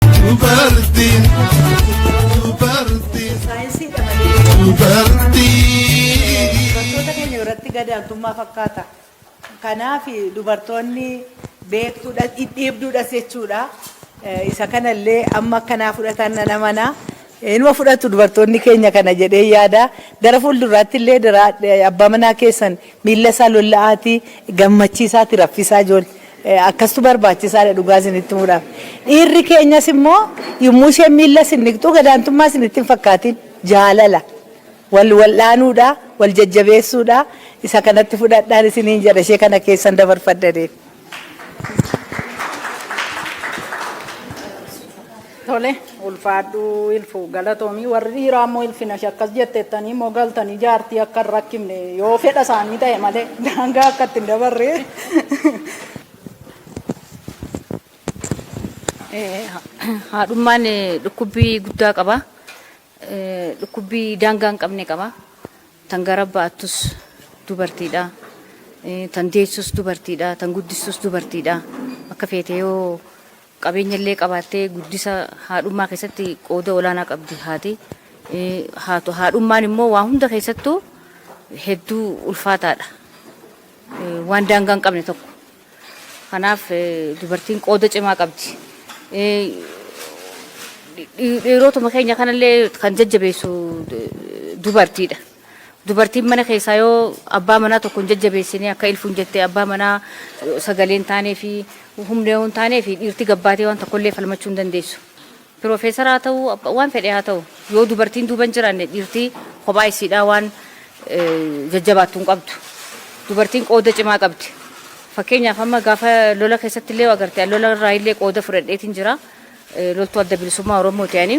Dubartiin, dubartiin, Saayinsiidha malee. dubartiin. Dubartoota keenya biratti gadaantummaa fakkaata. Kanaaf dubartoonni beektuudha, dhidhiibduudhas jechuudha. Eh, Isa kanallee amma akkanaa fudhatan nan amana. Inuma fudhatu dubartoonni keenya kana jedheen yaada. Gara fuuldurraatti illee dara abbaa manaa keessan miilla isaa lolla'aatii gammachiisaatii raffisaa ijoollee. Akkastu barbaachisaadha dhugaa isinitti himuudhaaf. Dhiirri keenyas immoo yommuu isheen miilla isin dhiqxu gadaantummaa isinitti hin fakkaatiin. Jaalala. Wal wal'aanuudha, wal jajjabeessuudha. Isa kanatti fudhadhaan isiniin jedha ishee kana keessan dabarfadha jedheen. Tole ulfaadhuu ilfu galatoomii warri dhiiraa immoo ilfinash akkas jetteettanii immoo galtanii jaartii akka hin rakkifne yoo fedha isaanii ta'e malee daangaa akka itti hin dabarre. Eh, haadhummaan eh, dhukkubbii guddaa qaba. Dhukkubbii daangaa hin qabne qaba. Tan gara baattus dubartiidha. Tan deessus dubartiidha. Tan guddistus dubartiidha. Akka feete yoo qabeenya illee qabaattee guddisa haadhummaa keessatti qooda olaanaa qabdi haati. Haadhummaan immoo waa hunda keessattuu hedduu ulfaataadha. Waan daangaa hin qabne tokko. Kanaaf dubartiin qooda cimaa qabdi. Dhiirotuma keenya kanallee kan jajjabeessu dubartiidha. Dubartiin mana keessaa yoo abbaa manaa tokko hin jajjabeessine akka ilfuun jette abbaa manaa sagalee hin taanee fi humna yoo hin taanee fi dhiirti gabbaatee waan tokkollee falmachuu hin dandeessu. Piroofeesara haa ta'u, waan fedhe haa ta'u, yoo dubartiin duuba hin jiraanne dhiirti kophaa isiidhaa waan jajjabaattu hin qabdu. Dubartiin qooda cimaa qabdi. Fakkeenyaaf amma gaafa lola keessatti illee agarte, lola irraa illee qooda fudhadheetiin jira. Loltuu adda bilisummaa Oromooti ani.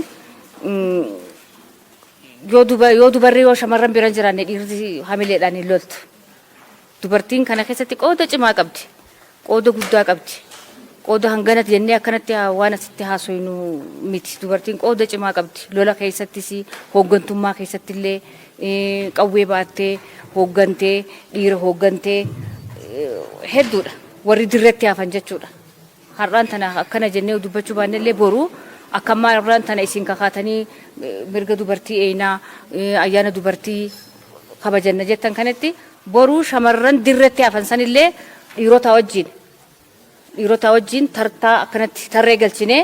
Yoo dubarri yoo shamarran bira hin jiraanne dhiirri hamileedhaan hin loltu. Dubartiin kana keessatti qooda cimaa qabdi. Qooda guddaa qabdi. Qooda hanganati jennee akkanatti waan asitti haasoynu miti. Dubartiin qooda cimaa qabdi. Lola keessattis, hooggantummaa keessatti illee qawwee baattee hooggantee, dhiira hooggantee hedduudha. Warri dirretti hafan jechuudha. Har'aan tana akkana jennee dubbachuu baannellee boru akka ammaa har'aan tana isin kakaatanii mirga dubartii eeyna, ayyaana dubartii kabajanna jettan kanatti boru shamarran dirretti hafan sanillee dhiirotaa wajjiin dhiirotaa wajjiin tartaa akkanatti tarree galchinee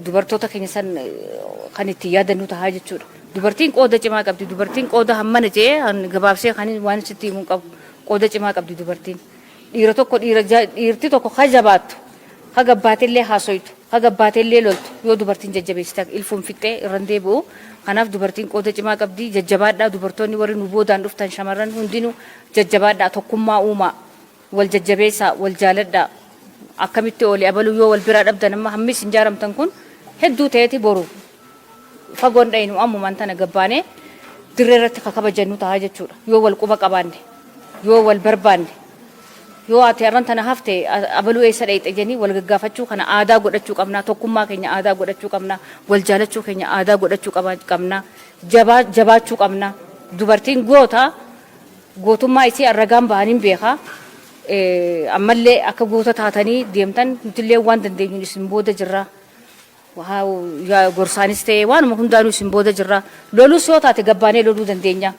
dubartoota keenya san kan itti yaadannu tahaa jechuudha. Dubartiin qooda cimaa qabdi. Dubartiin qooda hammana jee gabaabsee kan waan sitti himuun qabu qooda cimaa qabdi dubartiin. Dhiira tokko dhiira dhiirti tokko ka jabaattu ka gabbaatellee haasoytu ka gabbaatellee loltu yoo dubartiin jajjabeessite ilfuun fixxee irran deebi'u kanaaf dubartiin qooda cimaa qabdi jajjabaadhaa dubartoonni warri nu boodaan dhuftan shamarran hundinuu jajjabaadhaa tokkummaa uumaa wal jajjabeessaa wal jaaladhaa akkamitti oole abaluu yoo wal biraa dhabdan amma hammi isin jaaramtan kun hedduu ta'eeti boru Fagoo hin dhayinu ammumaan tana gad baanee dirree irratti ka kabajannu taha jechuudha. Yoo wal quba qabaanne, yoo wal barbaanne, yoo ati arran tana hafte abaluu eessa dhayxe jennee wal gaggaafachuu kana aadaa godhachuu qabna. Tokkummaa keenya aadaa godhachuu qabna. Wal jaalachuu keenya aadaa godhachuu qabna. Jabaa jabaachuu qabna. Dubartiin goota. Gootummaa isii an ragaan bahanin beeka. Ammallee akka goota taatanii deemtan nutillee waan dandeenyuun isin booda jirra. Wahaaw yaa gorsaanis ta'ee waanuma hundaanuu isin booda jirra. Lolus yoo taate gabbaanee loluu dandeenya.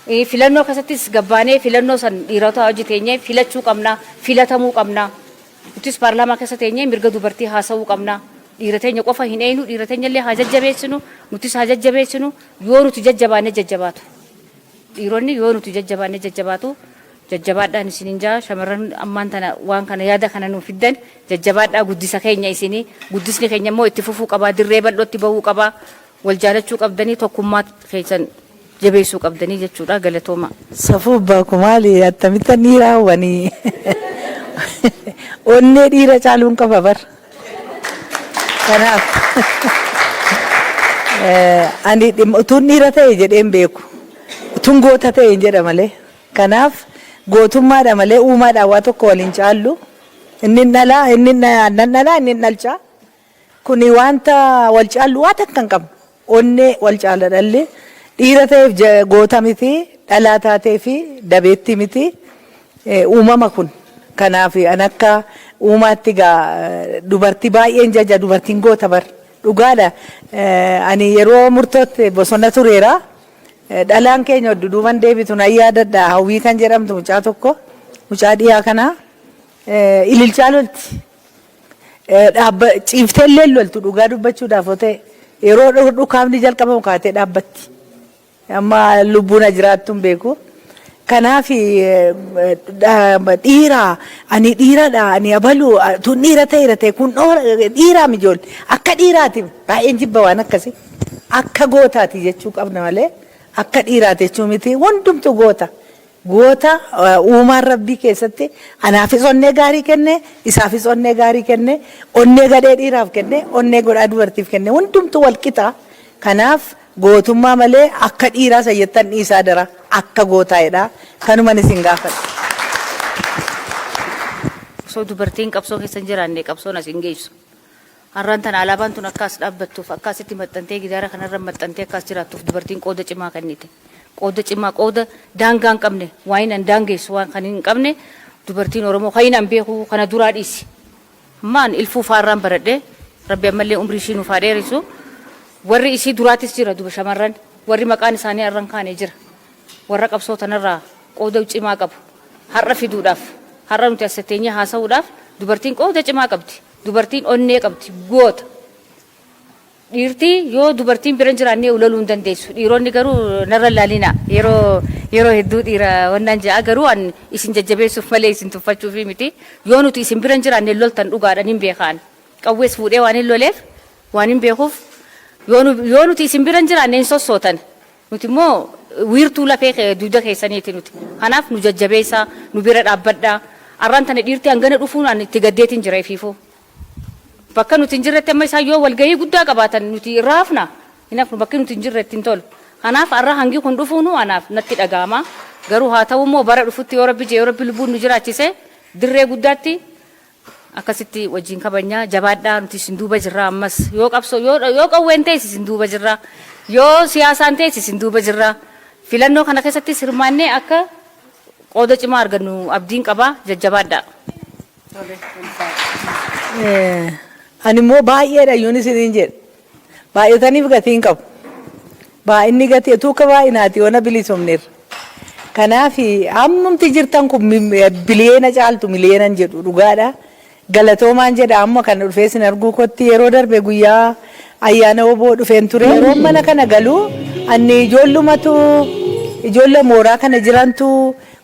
Eh, Filannoo keessattis gabbaanee filannoo san dhiirotaa hojii teenyee filachuu qabna, filatamuu qabna. Nutis paarlaamaa keessa teenyee mirga dubartii haasa'uu qabna. Dhiira teenya qofa hin eeynu, dhiira teenya illee haa jajjabeessinu, nutis haa jajjabeessinu. Yoo nuti jajjabaanne jajjabaatu. Dhiironni yoo nuti jajjabaanne jajjabaatu. Jajjabaadhaan isinin jaa shamarran ammaan tana waan kana yaada kana nuuf fiddan jajjabaadhaa guddisa keenya isini guddisni keenya immoo itti fufuu qabaa dirree bal'ootti bahuu qabaa wal jaalachuu qabdanii tokkummaa keessan jabeessuu qabdanii jechuudha galatooma. Safuu abbaa ko maali attamittan dhiiraa wani onnee dhiira caaluun qaba bar. Kanaaf ani dhimma utuun dhiira ta'e jedheen beeku. Utuun goota ta'een jedha malee. Kanaaf gootummaadha malee uumaadhaan waa tokko wal hin caallu. Inni hin dhalaa, inni nan dhalaa, inni hin dhalchaa. Kuni wanta wal caallu waa takka hin qabnu. Onnee wal caala dhalli. Dhiira ta'eef goota miti, dhalaa taateef dabeettii miti. Uumama kun. Kanaaf an akka uumaatti egaa dubartii baay'een jaja dubartiin goota bar. Dhugaadha ani yeroo murtootti bosona tureera. Dhalaan keenya oddu duuban deebitu nan yaadadha Hawwii kan jedhamtu mucaa tokko mucaa dhiyaa kana ililchaa lolti. Dhaabba ciiftee illee loltu dhugaa dubbachuudhaaf otee yeroo dhu- dhukaafni jalqabamu kaatee dhaabbatti. Amma lubbuun na jiraattu hin beeku. Kanaaf eh, dha- dhiira ani dhiiradha ani abalu ah, tun dhiira ta'eera ta'e kun dhoora dhiiraa mijool akka dhiiraati baay'een jibba waan akkasii akka gootaati jechuu qabna malee akka dhiiraati jechuu miti hundumtu goota Goota, Uumaan Rabbii keessatti anaafis onnee gaarii kenne, isaafis onnee gaarii kenne, onnee gadhee dhiiraaf kenne, onnee godhaa dubartiif kenne. Hundumtuu wal qixa. Kanaaf gootummaa malee akka dhiiraa san jettan dhiisaa adaraa. Akka gootaa jedhaa. Kanuman isin gaafadha. Osoo dubartiin qabsoo keessa hin jiraanne qabsoon as hin geessu. Har'aan tana alaabaan tun akka as dhaabbattuuf, akka asitti maxxantee gidaara kana irra maxxantee akka as jiraattuuf dubartiin qooda cimaa kennite. Qooda cimaa, qooda daangaa hin qabne, waain an daangeessu waan kan hin qabne dubartiin Oromoo kain an beeku kana duraa dhiisi. Amma an Ilfuu faa irraan baradhe, Rabbi ammallee umrii ishii nuuf haa dheeressu. Warri isii duraatis jira duba shamarran, warri maqaan isaanii har'a hin kaane jira. Warra qabsoo tana irraa qooda cimaa qabu. Har'a fiduudhaaf, har'a nuti as teenyee haasa'uudhaaf dubartiin qooda cimaa qabdi. Dubartiin onnee qabdi goota. Dhiirti yoo dubartiin bira hin jiraanne ulaluu hin dandeessu. Dhiironni garuu narra hin laalinaa. Yeroo yeroo hedduu dhiira wannaan ja'a garuu an isin jajjabeessuuf malee isin tuffachuufi miti. Yoo nuti isin bira hin jiraanne hin loltan dhugaadha nin beeka an. Qawwees fuudhee waanin loleef waanin beekuuf yoo nu yoo nuti isin bira hin jiraanne hin sossootan. Nuti immoo wiirtuu lafee kee, dugda keessaniiti nuti. Kanaaf nu jajjabeessaa, nu bira dhaabbadhaa. Arraan tana dhiirti hangana dhufuun ani itti gaddeetiin jira ifiifuu. Bakka nuti hin jirretti amma isaan yoo walgahii guddaa qabaatan nuti irraa hafnaa? Hin hafnu, bakki nuti hin jirre itti hin tolu. Kanaaf arra hangi kun dhufuunuu anaaf natti dhaga'ama. Garuu haa ta'uu immoo bara dhufutti yoo Rabbi je'e, yoo Rabbi lubbuun nu jiraachise dirree guddaatti Akkasitti wajjin kabajna. Jabaadhaa nuti isin duuba jirra ammas. Yoo qabsoo yoo qawween ta'es isin duuba jirra. Yoo siyaasaan ta'es isin duuba jirra. Filannoo kana keessattis hirmaannee akka qooda cimaa argannu abdiin qaba. Jajjabaadhaa. Ani immoo baay'eedha yoon isiniin jedhe. Baay'ataniif gatii hin qabu. Baay'inni gatii utuu akka baay'inaati yoona bilisoomneerra. Kanaaf hammumti jirtan kun biliyeena caaltu miliyeenan jedhu dhugaadha. Galatoomaan jedha amma kana dhufee sin arguu kootti yeroo darbe guyyaa ayyaana oboo dhufeen ture. Yeroon mana kana galu anni ijoollumatu ijoolle mooraa kana jirantu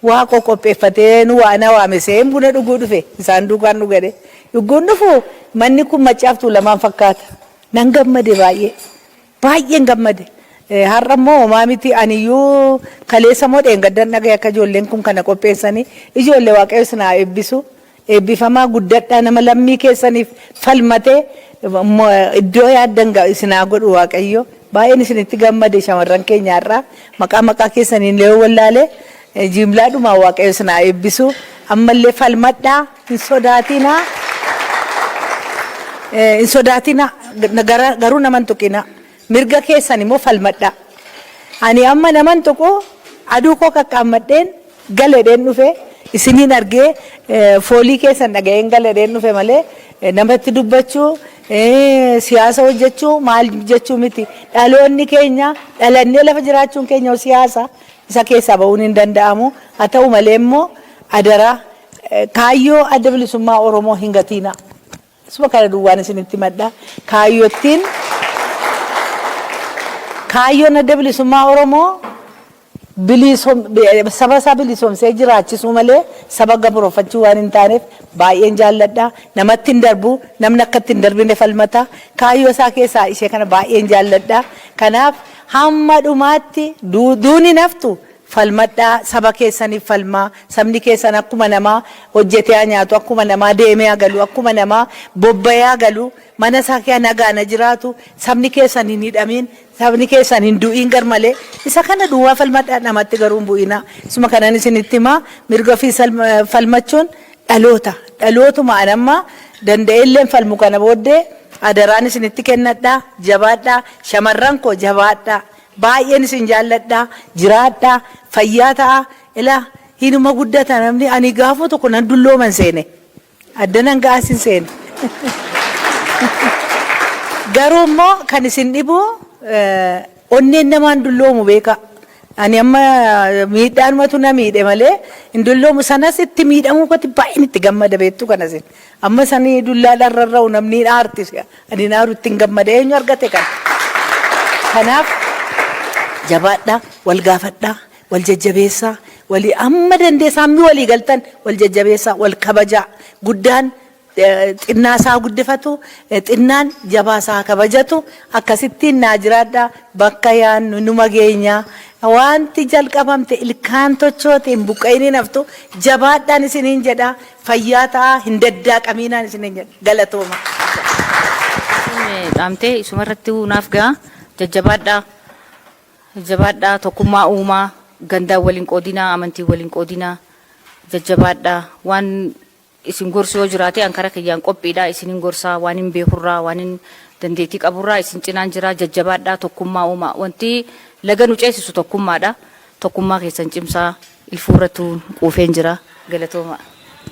waa qoqqopheeffatee nu waana waamesee buna dhuguu dhufe isaan duukaan dhugadhe. Yogguun dhufu manni kun Maccaaf Tuulamaan fakkaata. Nan gammade baay'ee. Baay'een gammade. Har'a immoo homaa miti aniyyuu kaleessa moo dheengaddan dhagahe akka ijoolleen kun kana qopheessanii. Ijoolle Waaqayyo isin haa eebbisu. Eebbifamaa guddadhaa nama lammii keessaniif falmatee iddoo yaaddan ga'u isin haa godhu Waaqayyo. Baay'een isinitti gammade shamarran keenya har'a. Maqaa maqaa keessaniillee yoo wallaale jiimlaadhumaan Waaqayyo isin haa eebbisu. Ammallee falmadhaa. Hin sodaatinaa, hin sodaatinaa, gara- garuu nama hin tuqinaa. Mirga keessan immoo falmadhaa. Ani amma nama hin tuqu, aduu koo qaqqaammadheen gala jedheen dhufe, isiniin argee eh, foolii keessan dhaga'een gala jedheen dhufe malee eh, namatti dubbachuu, eh, siyaasa hojjechuu maal jechuu miti. Dhaloonni keenya dhalannee lafa jiraachuun keenya siyaasa isa keessaa ba'uun hin danda'amu. Haa ta'u malee immoo adaraa Kaayyoo Adda Bilisummaa Oromoo hin gatiinaa. Isuma kana duwwaan isinitti himadha. Kaayyottiin Kaayyoon Adda Bilisummaa Oromoo biliisom- bi- saba isaa bilisoomsee jiraachisuu malee saba gabrooffachuu waan hin taaneef baay'een jaalladha. Namatti hin darbu, namni akka itti hin darbine falmata. Kaayyoo isaa keessaa ishee kana baay'een jaalladha. Kanaaf hamma dhumaatti du- duuni naftu Falmadhaa, saba keessaniif falmaa, sabni keessan akkuma namaa hojjetee haa nyaatu, akkuma namaa deemee haa galu, akkuma namaa bobba'ee haa galu, mana isaa keessa nagaan haa jiraatu, sabni keessan hin hidhamiin, sabni keessan hin du'iin garmalee, isa kana duwwaa falmadhaa, namatti garuu hin bu'inaa. Isuma kanan isinitti himaa, mirga ofii falmachuun dhaloota, dhalootuma an amma danda'eelleen falmu kana booddee adaraan isinitti kennadha, jabaadhaa, shamarran koo jabaadhaa, Baay'een isin jaalladha jiraadhaa fayyaa ta'a ila hinuma guddata namni ani gaafuma tokko nan dullooman seene adda nan ga'as hin seene garuu immoo kan isin dhibu onneen namaan dulloomu beekaa ani amma miidhaanumatu na miidhe malee hin dulloomu sanas itti miidhamuu koti baay'een itti gammada beektuu kana isin. Ammas ani dullaadhaan rarra'u namni hin aarti si'a ani hin aaru ittiin gammada eenyu argate kana. Kanaaf jabaadhaa wal gaafadhaa wal jajjabeessaa walii amma dandeessaa hammi walii galtan wal jajjabeessaa wal kabajaa guddaan eh, xinnaa isaa guddifatu eh, xinnaan jabaa isaa kabajatu akkasittiin naa jiraadhaa bakka yaannu numa geenyaa wanti jalqabamte ilkaan tochoote hin buqqa'iniin haftu jabaadhaan isiniin jedhaa Fayyaa ta'aa hin daddaaqamiinaan isiniin jedha. Galatoomaa. Isiin dhaamtee isuma irrattiyyuu naaf ga'a. Jajjabaadhaa. Jajjabaadhaa. Tokkummaa uumaa. Gandaan wal hin qoodinaa. Amantiin wal hin qoodinaa. Jajjabaadhaa. Waan isin gorsu yoo jiraate an karaa kiyyaan qophiidha. Isinin gorsaa waan hin beekurraa waan hin dandeettii qaburraa isin cinaan jira. Jajjabaadhaa. Tokkummaa uumaa. Wanti laga nu ceesisu tokkummaadha. Tokkummaa keessan cimsaa. Ilfuurrattuu quufeen jira. Galatoomaa.